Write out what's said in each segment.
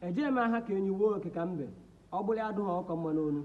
ejeghị m aha ka enyi wuo oke ka mbe ọbala adụghị ọkụkọ mma n'onu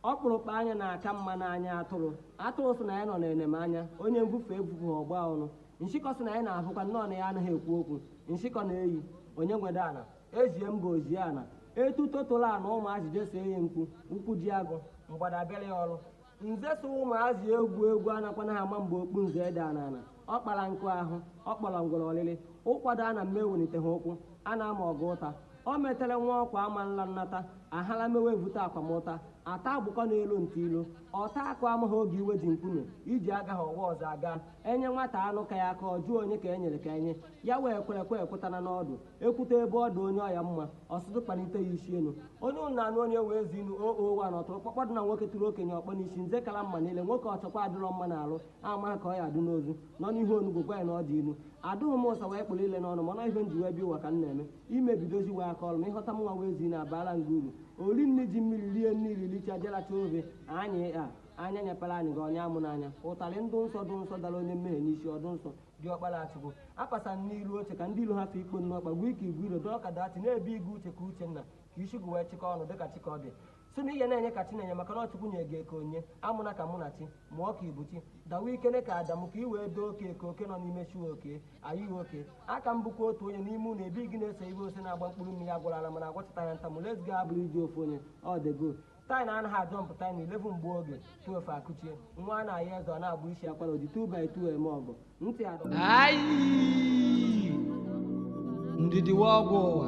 ọkpụrụkpụ anya na-aka mma n'anya atụrụ atụrụ sị na ya nọ n'enemanya onye mbufe ebubu ọgba ọnụ nshịkọ sị na ya na-ahụkwa nnọọ na ya anaghị ekwu okwu nshịkọ na-eyi onye nwede ana ezie mba ozie ana etu totolo ana ụmụazị jeso eyi mkpu ụkwụ jie agụ mgbada abịara ya ọrụ nze so ụmụazị egwu egwu anakwana ha ama mgbe okpu nze edaa n'ana ọ kpara nkụ ahụhụ kpọrọ ngwere ọlịlị ụkwado a na mma ewelite ha ụkwụ a na-ama ọgụ ụta o metere nwa ọkwa ama nla nnata ahala mewe evute akwamụta ata agbụkọ n'elu nta ilu ọta akụ amaghị oge iwe ji mkpume iji agaha ọwa ọzọ aga E nye nwata anụ ka ya aka ọ jụọ onye ka e nyere ka e nye ya, wee kwere kwe ekwetana n'ọdụ, ekwute ebe ọ dị onye ọya mma, ọ sụtụ kpanite ya isi enu. Onye ụnụ na-anụ onye wee ezi inu o o wa na ọtụrụkpọkpọ dị na nwoke tụrụ okenye ọkpọ n'isi nze kala mma n'ile, nwoke ọchọkwa adịrọ mma n'alụ, amaghị ka ọ ya adụ n'ozu, nọ n'ihu onugbu gwa ya na ọ dị inu. Adụghị m ụsa wee kpụrụ ile n'ọnụ m, mana ihe m ji wee bịa ụwa ka m na-eme, ime bidozi wee aka ọrụ m, ịhọta mụnwa wee ezi inu abaara m gị uru. O ri nri ji mmiri rie nri iri richaa je racha ofe, anyị a. anya nyepere anyị gị ọnya amụ n'anya ụtarị dụ nsọ dụ nsọ dara onye mmehie n'isi ọdụ nsọ dị ọkpara achụgo apasa n'iru oche ka ndị ilu ha fe ikpo nnu ọkpa gwuo ike igwe iro dọọ ka dati na-ebi igu uche ka uchenna ka isi gị wee chịkọ ọnụ dịka chikọdị si na ihe na-enye ka chinenye maka na ọ chukwu nye gị eke onye amụna ka munachi mụọ ka ibuchi dawa ikene ka adamu ka i wee doo oke eke oke nọ n'ime chi oke ayi oke aka m bụkwa otu onye n'ime ụlọ ebi gị na-ese ibe ose na-agba mkpụrụ mmiri agwara ala mana agwachịta ya ntamụ let's go abụrụ iji ofu onye ọ dị good Taịna anaghị ajọ mpụta na 11 gbuo oge 12 akụchie nwa a na-ayọ eze ọ na-agba isi akwara o ji 2 by 2 eme ọgụ ntị adọ Ayi! Ndidi wa ọgwụ ụwa.